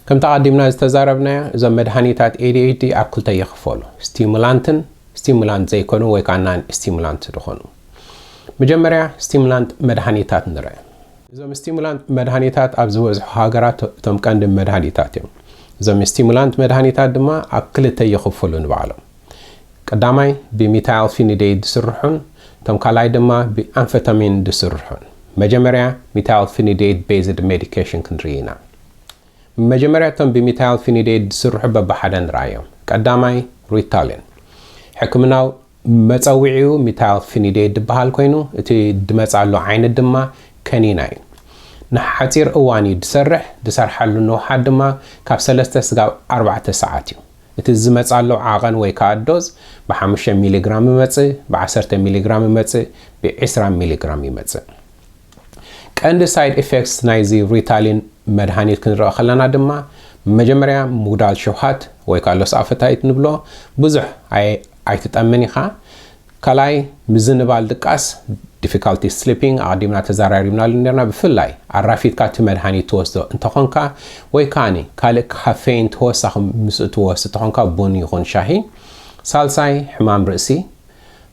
ከምቲ ኣቐዲምና ዝተዛረብናዮ እዞም መድሃኒታት ኤዲኤችዲ ኣብ ክልተ ይኽፈሉ ስቲሙላንትን ስቲሙላንት ዘይኮኑ ወይ ከዓ ናን ስቲሙላንት ዝኾኑ መጀመርያ ስቲሙላንት መድሃኒታት ንርአ እዞም ስቲሙላንት መድሃኒታት ኣብ ዝበዝሑ ሃገራት እቶም ቀንዲ መድሃኒታት እዮም እዞም ስቲሙላንት መድሃኒታት ድማ ኣብ ክልተ ይኽፈሉ ንባዕሎም ቀዳማይ ብሚታይል ፊኒዴይድ ዝስርሑን እቶም ካልኣይ ድማ ብኣንፈታሚን ዝስርሑን። መጀመርያ ሚታይል ፊኒዴይድ ቤዝድ ሜዲኬሽን ክንርኢ ኢና። መጀመርያ እቶም ብሚታይል ፊኒዴይድ ዝስርሑ በብሓደ ንርኣዮም። ቀዳማይ ሪታሊን። ሕክምናዊ መጸዊዒኡ ሚታይል ፊኒዴይድ ዝበሃል ኮይኑ እቲ ዝመጽኣሉ ዓይነት ድማ ከኒና እዩ። ንሓጺር እዋን እዩ ዝሰርሕ፣ ዝሰርሓሉ ንውሓት ድማ ካብ ሰለስተ ስጋብ ኣርባዕተ ሰዓት እዩ። እቲ ዝመጻሉ ዓቐን ወይ ከኣ ዶዝ ብሓሙሽተ ሚሊግራም ይመጽእ፣ ብዓሰርተ ሚሊግራም ይመጽእ፣ ብዒስራ ሚሊግራም ይመጽእ። ቀንዲ ሳይድ ኢፌክትስ ናይዚ ሪታሊን መድሃኒት ክንርኢ ከለና ድማ መጀመርያ ምጉዳል ሽውሃት ወይ ከኣ ሎስ ኣፐታይት ንብሎ፣ ብዙሕ ኣይትጠምን ኢኻ፣ ካልኣይ ምዝንባል ድቃስ፣ Difficulty Sleeping፣ ኣቐዲምና ተዛራሪብናሉ ኔርና፣ ብፍላይ ኣራፊድካ እቲ መድሃኒት ትወስዶ እንተኾንካ ወይ ከኣ ካልእ ካፌይን ተወሳኺ ምስኡ ትወስድ ተኾንካ ቡን ይኹን ሻሂ። ሳልሳይ ሕማም ርእሲ።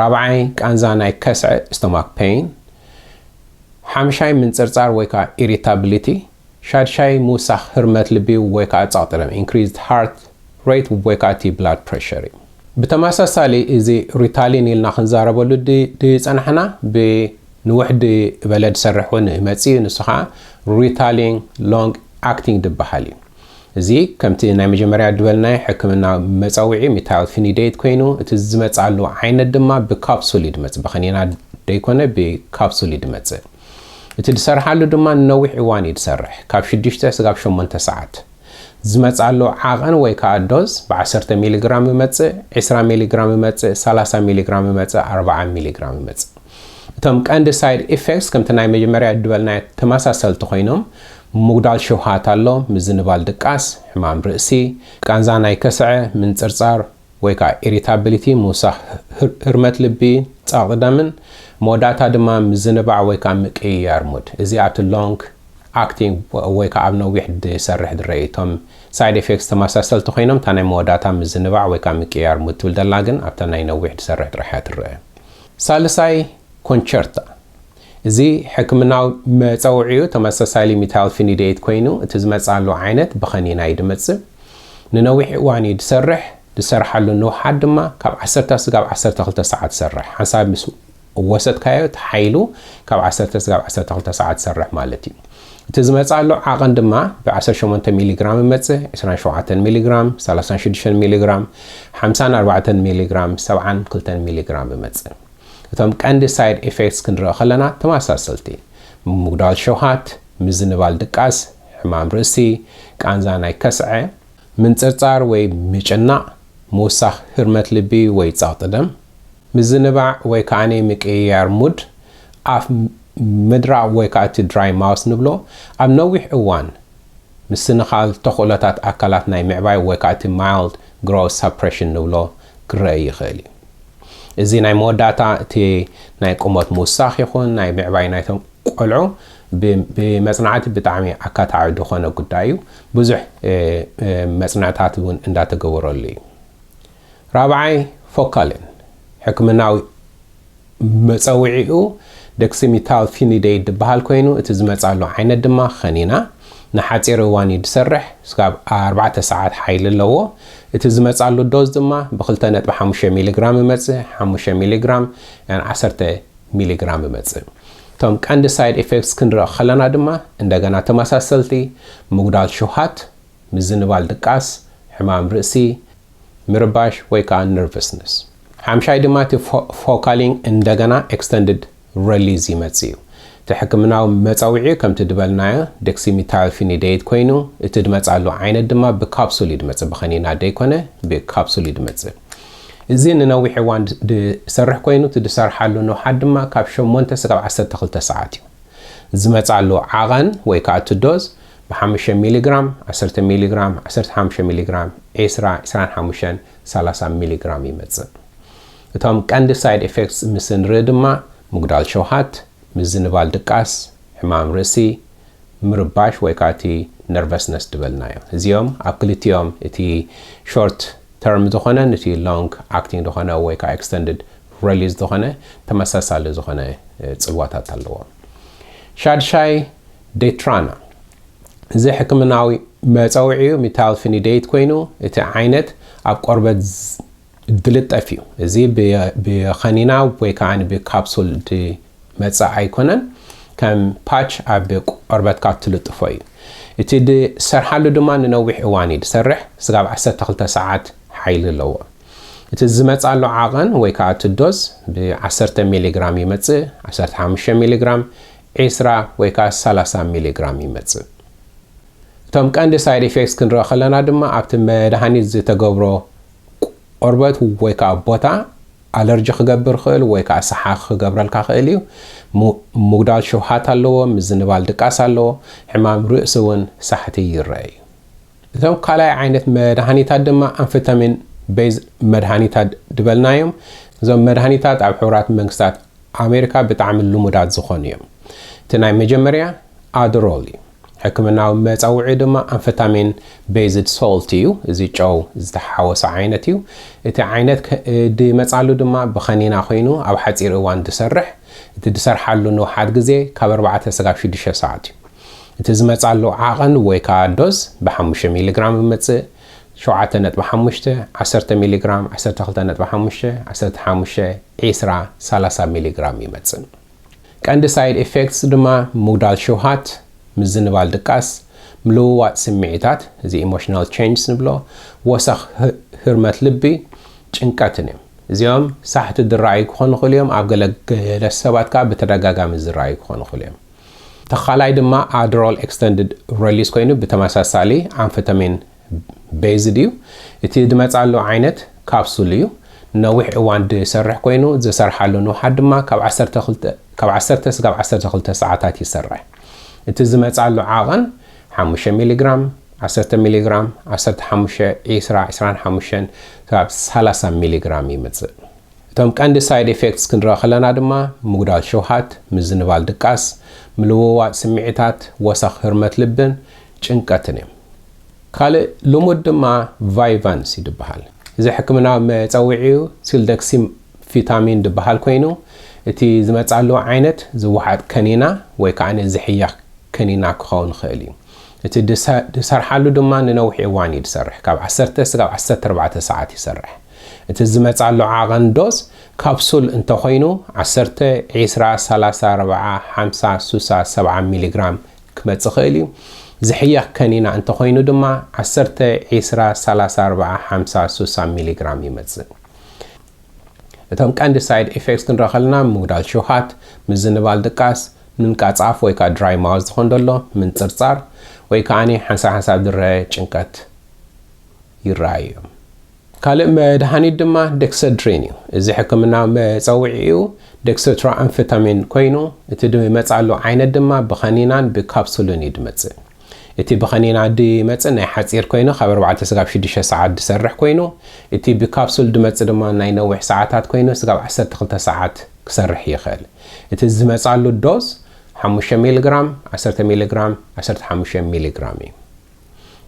ራብዓይ ቃንዛ ናይ ከስዐ፣ Stomach Pain። ሓምሻይ ምንጽርጻር ወይ ከኣ Irritability። ሻድሻይ ምውሳኽ ህርመት ልቢ ወይ ከኣ ጸቕጢ ደም፣ Increased Heart Rate፣ ወይ ከኣ እቲ Blood Pressure እዩ። ብተመሳሳሊ እዚ Ritalin ኢልና ክንዛረበሉ ድጸናሕና ብ ንውሕድ እበለ ድሰርሕ ውን ይመጽእ እዩ ንሱ ከኣ Ritalin Long Acting ድበሃል እዩ። እዚ ከምቲ ናይ መጀመርያ ድበልናዮ ሕክምናዊ መጸውዒ Methylphenidate ኮይኑ እቲ ዝመጽኣሉ ዓይነት ድማ ብካፕሱል እዩ ድመጽእ ብክኒና ደይኮነ ብካፕሱል እዩ ድመጽእ። እቲ ዝሰርሓሉ ድማ ንነዊሕ እዋን እዩ ዝሰርሕ፣ ካብ ሽዱሽተ ስጋብ ሸሞንተ ሰዓት። ዝመጽኣሉ ዓቐን ወይ ከኣ ዶዝ ብ ዓሰርተ ሚሊግራም ይመጽእ፣ ዕስራ ሚሊግራም ይመጽእ፣ ሰላሳ ሚሊግራም ይመጽእ፣ ኣርብዓ ሚሊግራም ይመጽእ። እቶም ቀንዲ ሳይድ ኢፌክትስ ከምቲ ናይ መጀመርያ ዝበልናዮ ተመሳሰልቲ ኮይኖም፣ ምጉዳል ሸውሃት ኣሎ፣ ምዝንባል ድቃስ፣ ሕማም ርእሲ፣ ቃንዛ ናይ ከስዐ፣ ምንጽርጻር፣ ወይ ከኣ ኢሪታብሊቲ፣ ምውሳኽ ህርመት ልቢ፣ ጸቕጢ ደምን መወዳእታ ድማ ምዝንባዕ ወይ ከኣ ምቅይያር ሙድ። እዚ ኣብቲ ሎንግ ኣክቲንግ ወይ ከኣ ኣብ ነዊሕ ድሰርሕ ድረኢ። እቶም ሳይድ ኤፌክትስ ተመሳሰልቲ ኮይኖም እታ ናይ መወዳእታ ምዝንባዕ ወይ ከኣ ምቅይያር ሙድ ትብል ደላ ግን ኣብታ ናይ ነዊሕ ድሰርሕ ጥራሕ እያ ትረኣ። ሳልሳይ ኮንቸርታ። እዚ ሕክምናዊ መጸውዒኡ ተመሳሳሊ ሚታይልፊኒዴት ኮይኑ እቲ ዝመጽኣሉ ዓይነት ብኸኒና እዩ ድመጽእ። ንነዊሕ እዋን እዩ ድሰርሕ፣ ድሰርሓሉ ንውሓት ድማ ካብ ዓሰርተ ስጋብ ዓሰርተ ክልተ ሰዓት ትሰርሕ። ሓንሳብ ምስ ወሰድካዮ እቲ ሓይሉ ካብ ዓሰርተ ስጋብ ዓሰርተ ክልተ ሰዓት ትሰርሕ ማለት እዩ። እቲ ዝመጽኣሉ ዓቐን ድማ ብ ዓሰርተ ሸሞንተ ሚሊግራም እመጽእ፣ ዕስራን ሸውዓተን ሚሊግራም፣ ሰላሳን ሽዱሽተን ሚሊግራም፣ ሓምሳን ኣርባዕተን ሚሊግራም፣ ሰብዓን ክልተን ሚሊግራም እመጽእ። እቶም ቀንዲ ሳይድ ኤፌክትስ ክንርኢ ከለና ተመሳሰልቲ፣ ምጉዳል ሸውሃት፣ ምዝንባል ድቃስ፣ ሕማም ርእሲ፣ ቃንዛ ናይ ከስዐ፣ ምንጽርጻር ወይ ምጭናቕ፣ ምውሳኽ ህርመት ልቢ ወይ ጸቕጢ ደም፣ ምዝንባዕ ወይ ከኣ ምቅይያር ሙድ፣ ኣፍ ምድራቕ ወይ ከኣ እቲ ድራይ ማውስ ንብሎ ኣብ ነዊሕ እዋን ምስንኻል ተኽእሎታት ኣካላት ናይ ምዕባይ ወይ ከኣ እቲ ማይልድ ግሮውዝ ሳፕረሽን ንብሎ ክረኣይ ይኽእል እዩ። እዚ ናይ መወዳእታ እቲ ናይ ቁመት ምውሳኽ ይኹን ናይ ምዕባይ ናይቶም ቆልዑ ብመጽናዕቲ ብጣዕሚ ኣካታዒ ዝኾነ ጉዳይ እዩ። ብዙሕ መጽንዕታት እውን እንዳተገበረሉ እዩ። ራብዓይ ፎካልን ሕክምናዊ መጸውዒኡ ደክሲሚታልፊኒደይድ ድበሃል ኮይኑ እቲ ዝመጻሉ ዓይነት ድማ ከኒና ንሓጺር እዋን እዩ ድሰርሕ፣ ስጋብ ኣርባዕተ ሰዓት ሓይሊ ኣለዎ። እቲ ዝመጻሉ ዶዝ ድማ ብክልተ ነጥቢ ሓሙሽተ ሚሊግራም እመጽእ፣ ሓሙሽተ ሚሊግራም ን ዓሰርተ ሚሊግራም እመጽእ። እቶም ቀንዲ ሳይድ ኢፌክትስ ክንርኢ ከለና ድማ እንደገና ተመሳሰልቲ ምጉዳል ሽውሃት፣ ምዝንባል ድቃስ፣ ሕማም ርእሲ፣ ምርባሽ ወይ ከኣ ነርቨስነስ። ሓምሻይ ድማ እቲ ፎካሊንግ እንደገና ኤክስተንድድ ረሊዝ ይመጽእ እዩ። እቲ ሕክምናዊ መጸውዒ ከምቲ ድበልናዮ ደክሲሚታይልፊኒደይት ኮይኑ እቲ ድመጽኣሉ ዓይነት ድማ ብካፕሱል እዩ ድመጽእ ብኸኒና ደይኮነ ብካፕሱል እዩ ድመጽእ። እዚ ንነዊሕ እዋን ድሰርሕ ኮይኑ እቲ ድሰርሓሉ ንውሓት ድማ ካብ ሸሞንተ ስጋብ ዓሰርተ ክልተ ሰዓት እዩ። ዝመጽኣሉ ዓቐን ወይ ከኣ እቲ ዶዝ ብሓምሸ ሚሊ ግራም፣ ዓሰርተ ሚሊ ግራም፣ ዓሰርተ ሓምሸ ሚሊ ግራም፣ ዒስራ፣ ዒስራን ሓሙሸን፣ ሰላሳ ሚሊ ግራም ይመጽእ። እቶም ቀንዲ ሳይድ ኤፌክትስ ምስ እንርኢ ድማ ምጉዳል ሸውሃት፣ ምዝንባል ድቃስ፣ ሕማም ርእሲ፣ ምርባሽ ወይ ከኣ እቲ ነርቨስነስ ድበልናዮ። እዚኦም ኣብ ክልቲኦም እቲ ሾርት ተርም ዝኾነን እቲ ሎንግ ኣክቲንግ ዝኾነ ወይ ከኣ ኤክስተንድድ ረሊዝ ዝኾነ ተመሳሳሊ ዝኾነ ጽልዋታት ኣለዎም። ሻድሻይ Detrana፣ እዚ ሕክምናዊ መጸውዒኡ ሚታይልፊኒዴይት ኮይኑ፣ እቲ ዓይነት ኣብ ቆርበት ዝልጠፍ እዩ። እዚ ብኸኒና ወይ ከኣ ብካፕሱል ዝመጽእ ኣይኮነን፣ ከም ፓች ኣብ ቆርበትካ እትልጥፎ እዩ። እቲ ዝሰርሓሉ ድማ ንነዊሕ እዋን እዩ ዝሰርሕ፣ ስጋብ ዓሰርተ ክልተ ሰዓት ሓይሊ ኣለዎ። እቲ ዝመጽኣሉ ዓቐን ወይ ከኣ እቲ ዶዝ ብ ዓሰርተ ሚሊግራም ይመጽእ፣ ዓሰርተ ሓሙሽተ ሚሊግራም፣ ዒስራ ወይ ከኣ ሰላሳ ሚሊግራም ይመጽእ። እቶም ቀንዲ ሳይድ ኢፌክትስ ክንርኢ ከለና ድማ ኣብቲ መድሃኒት ዝተገብሮ ቆርበት ወይ ከኣ ቦታ ኣለርጂ ክገብር ይኽእል ወይ ከኣ ሰሓኽ ክገብረልካ ይኽእል እዩ። ምጉዳል ሽውሃት ኣለዎ፣ ምዝንባል ድቃስ ኣለዎ፣ ሕማም ርእሲ እውን ሳሕቲ ይረኣ እዩ። እቶም ካልኣይ ዓይነት መድሃኒታት ድማ ኣምፈታሚን ቤዝ መድሃኒታት ዝበልናዮም እዞም መድሃኒታት ኣብ ሕቡራት መንግስታት ኣሜሪካ ብጣዕሚ ልሙዳት ዝኾኑ እዮም። እቲ ናይ መጀመርያ ኣድሮል እዩ። ሕክምናዊ መፀውዒኡ ድማ ኣንፈታሚን ቤዝድ ሶልት እዩ፣ እዚ ጨው ዝተሓወሶ ዓይነት እዩ። እቲ ዓይነት ድመፅኣሉ ድማ ብኸኒና ኮይኑ ኣብ ሓፂር እዋን ድሰርሕ፣ እቲ ድሰርሓሉ ንውሓት ግዜ ካብ ኣርባዕተ ስጋብ ሽዱሽተ ሰዓት እዩ። እቲ ዝመፅኣሉ ዓቐን ወይ ከዓ ዶዝ ብሓሙሽተ ሚሊ ግራም እመፅእ፣ ሸውዓተ ነጥቢ ሓሙሽተ፣ ዓሰርተ ሚሊግራም፣ ዓሰርተ ክልተ ነጥቢ ሓሙሽተ፣ ዓሰርተ ሓሙሽተ፣ ዕስራ፣ ሰላሳ ሚሊግራም ይመጽእ። ቀንዲ ሳይድ ኢፌክትስ ድማ ምጉዳል ሽውሃት፣ ምዝንባል ድቃስ፣ ምልውዋጥ ስምዒታት፣ እዚ ኢሞሽናል ቼንጅስ ንብሎ፣ ወሰኽ ህርመት ልቢ፣ ጭንቀትን እዮም። እዚኦም ሳሕቲ ዝረኣዩ ክኾኑ ይኽእሉ እዮም፣ ኣብ ገለ ገለ ሰባት ከኣ ብተደጋጋሚ ዝረኣዩ ክኾኑ ይኽእሉ እዮም። እቲ ካልኣይ ድማ ኣድሮል ኤክስተንድድ ረሊስ ኮይኑ ብተመሳሳሊ ኣምፈታሚን ቤዝድ እዩ። እቲ ዝመጽኣሉ ዓይነት ካፕሱል እዩ። ንነዊሕ እዋን ዝሰርሕ ኮይኑ ዝሰርሓሉ ንውሓት ድማ ካብ ዓሰርተ ክልተ ካብ ዓሰርተ ስጋብ ዓሰርተ ክልተ ሰዓታት ይሰርሕ። እቲ ዝመጽኣሉ ዓቐን ሓሙሽተ ሚሊግራም፣ ዓሰርተ ሚሊግራም፣ ዓሰርተ ሓሙሽተ፣ ዒስራ፣ ዒስራን ሓሙሽተን ስጋብ ሰላሳ ሚሊግራም ይመጽእ። እቶም ቀንዲ ሳይድ ኤፌክትስ ክንርኢ ከለና ድማ ምጉዳል ሸውሃት፣ ምዝንባል ድቃስ፣ ምልውዋጥ ስምዒታት፣ ወሰኽ ህርመት ልብን ጭንቀትን እዮም። ካልእ ልሙድ ድማ ቫይቫንስ እዩ ድበሃል። እዚ ሕክምናዊ መጸውዒኡ ሲልደክሲምፊታሚን ድበሃል ኮይኑ እቲ ዝመጽኣሉ ዓይነት ዝወሓጥ ከኒና ወይ ከኣ ዝሕየኽ ከኒና ክኸውን ይኽእል እዩ። እቲ ድሰርሓሉ ድማ ንነዊሕ እዋን እዩ ድሰርሕ፣ ካብ ዓሰርተ ስጋብ ዓሰርተ ኣርባዕተ ሰዓት ይሰርሕ። እቲ ዝመጽኣሉ ዓቐን ዶዝ ካፕሱል እንተኾይኑ ዓሰርተ፣ ዒስራ፣ ሰላሳ፣ ኣርብዓ፣ ሓምሳ፣ ሱሳ፣ ሰብዓ ሚሊግራም ክመጽእ ይኽእል እዩ። ዝሕየኽ ከኒና እንተኾይኑ ድማ ዓሰርተ፣ ዒስራ፣ ሰላሳ፣ ኣርብዓ፣ ሓምሳ፣ ሱሳ ሚሊግራም ይመጽእ። እቶም ቀንዲ ሳይድ ኤፌክትስ ክንርኢ ከለና ምጉዳል ሽውሃት፣ ምዝንባል ድቃስ፣ ምንቃጽ ኣፍ ወይ ከኣ ድራይ ማውዝ ዝኾን ደሎ፣ ምንጽርጻር ወይ ከኣ ሓንሳብ ሓንሳብ ድረ ጭንቀት ይረኣዩ እዮም። ካልእ መድሃኒት ድማ ደክሰድሪን እዩ። እዚ ሕክምናዊ መጸውዒኡ ደክሰትሮኣምፈታሚን ኮይኑ፣ እቲ ድመጽኣሉ ዓይነት ድማ ብኸኒናን ብካፕሱልን እዩ ድመጽእ። እቲ ብኸኒና ድመጽእ ናይ ሓጺር ኮይኑ ካብ ኣርባዕተ ስጋብ ሽዱሽተ ሰዓት ድሰርሕ ኮይኑ፣ እቲ ብካፕሱል ድመጽእ ድማ ናይ ነዊሕ ሰዓታት ኮይኑ ስጋብ ዓሰርተ ክልተ ሰዓት ክሰርሕ ይኽእል። እቲ ዝመጽኣሉ ዶዝ ሓሙሽተ ሚሊግራም፣ ዓሰርተ ሚሊግራም፣ ዓሰርተ ሓሙሽተ ሚሊግራም እዩ።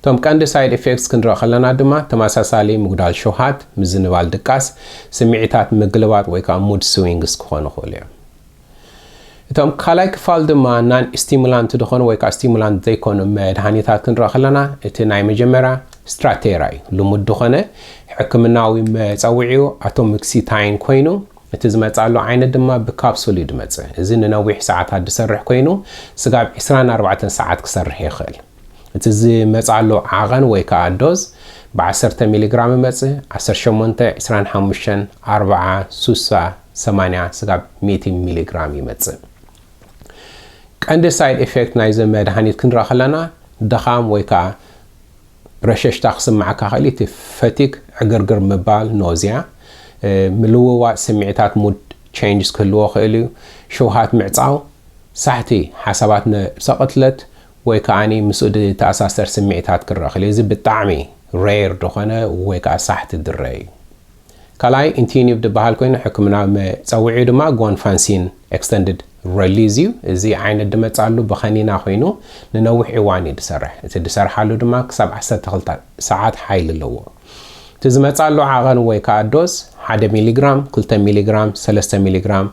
እቶም ቀንዲ ሳይድ ኢፌክትስ ክንርኢ ከለና ድማ ተመሳሳሊ ምጉዳል ሸውሃት፣ ምዝንባል ድቃስ፣ ስምዒታት ምግልባጥ ወይ ከኣ ሙድ ስዊንግስ ክኾኑ ይኽእሉ እዮም። እቶም ካልኣይ ክፋል ድማ ናን ስቲሙላንት ዝኾኑ ወይ ከኣ ስቲሙላንት ዘይኮኑ መድሃኒታት ክንርኢ ከለና እቲ ናይ መጀመርያ ስትራቴራ እዩ። ልሙድ ዝኾነ ሕክምናዊ መጸውዒኡ ኣቶሞክሲታይን ኮይኑ እቲ ዝመጽኣሉ ዓይነት ድማ ብካፕሱል እዩ ድመጽእ። እዚ ንነዊሕ ሰዓታት ድሰርሕ ኮይኑ ስጋብ ዕስራን ኣርባዕተን ሰዓት ክሰርሕ ይኽእል። እቲ ዝመጽኣሉ ዓቐን ወይ ከኣ ዶዝ ብ ዓሰርተ ሚሊግራም እመጽ፣ ዓሰርተ ሸሞንተ፣ ዕስራን ሓሙሽተን፣ ኣርብዓ፣ ሱሳ፣ ሰማንያ ስጋብ ሚእቲ ሚሊግራም ይመጽእ። ቀንዲ ሳይድ ኢፌክት ናይዚ መድሃኒት ክንርኢ ከለና ድኻም ወይ ከኣ ረሸሽታ ክስምዓካ ይኽእል እዩ፣ እቲ ፈቲግ፣ ዕግርግር ምባል፣ ኖዝያ፣ ምልውዋጥ ስምዒታት፣ ሙድ ቼንጅስ፣ ክህልዎ ይኽእል እዩ፣ ሽውሃት ምዕጻው፣ ሳሕቲ ሓሳባት፣ ነብሰ ቅትለት ወይ ከኣ ምስኡ ዝተኣሳሰር ስምዒታት ክረኣ ከሎ እዚ ብጣዕሚ rare ዝኾነ ወይ ከኣ ሳሕቲ ድረ እዩ። ካልኣይ ኢንቲዩኒቭ ዝበሃል ኮይኑ ሕክምናዊ መጸውዒኡ ድማ ጎንፋንሲን ኤክስተንድድ ረሊዝ እዩ። እዚ ዓይነት ድመጽኣሉ ብኸኒና ኮይኑ ንነዊሕ እዋን እዩ ድሰርሕ። እቲ ድሰርሓሉ ድማ ክሳብ ዓሰርተ ክልተ ሰዓት ሓይሊ ኣለዎ። እቲ ዝመጽኣሉ ዓቐን ወይ ከኣ ዶዝ ሓደ ሚሊግራም፣ ክልተ ሚሊግራም፣ ሰለስተ ሚሊግራም፣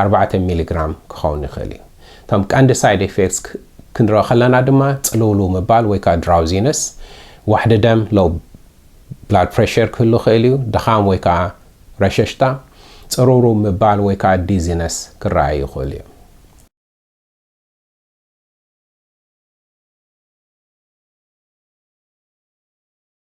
ኣርባዕተ ሚሊግራም ክኸውን ይኽእል እዩ። እቶም ቀንዲ ሳይድ ኤፌክትስ ክንርኢ ከለና ድማ ጽልውልው ምባል ወይ ከኣ ድራውዚነስ፣ ዋሕዲ ደም፣ ሎው ብላድ ፕረሸር፣ ክህሉ ይኽእል እዩ፣ ድኻም ወይ ከኣ ረሸሽታ፣ ጽርውርው ምባል ወይ ከኣ ዲዚነስ ክረኣይ ይኽእሉ እዮም።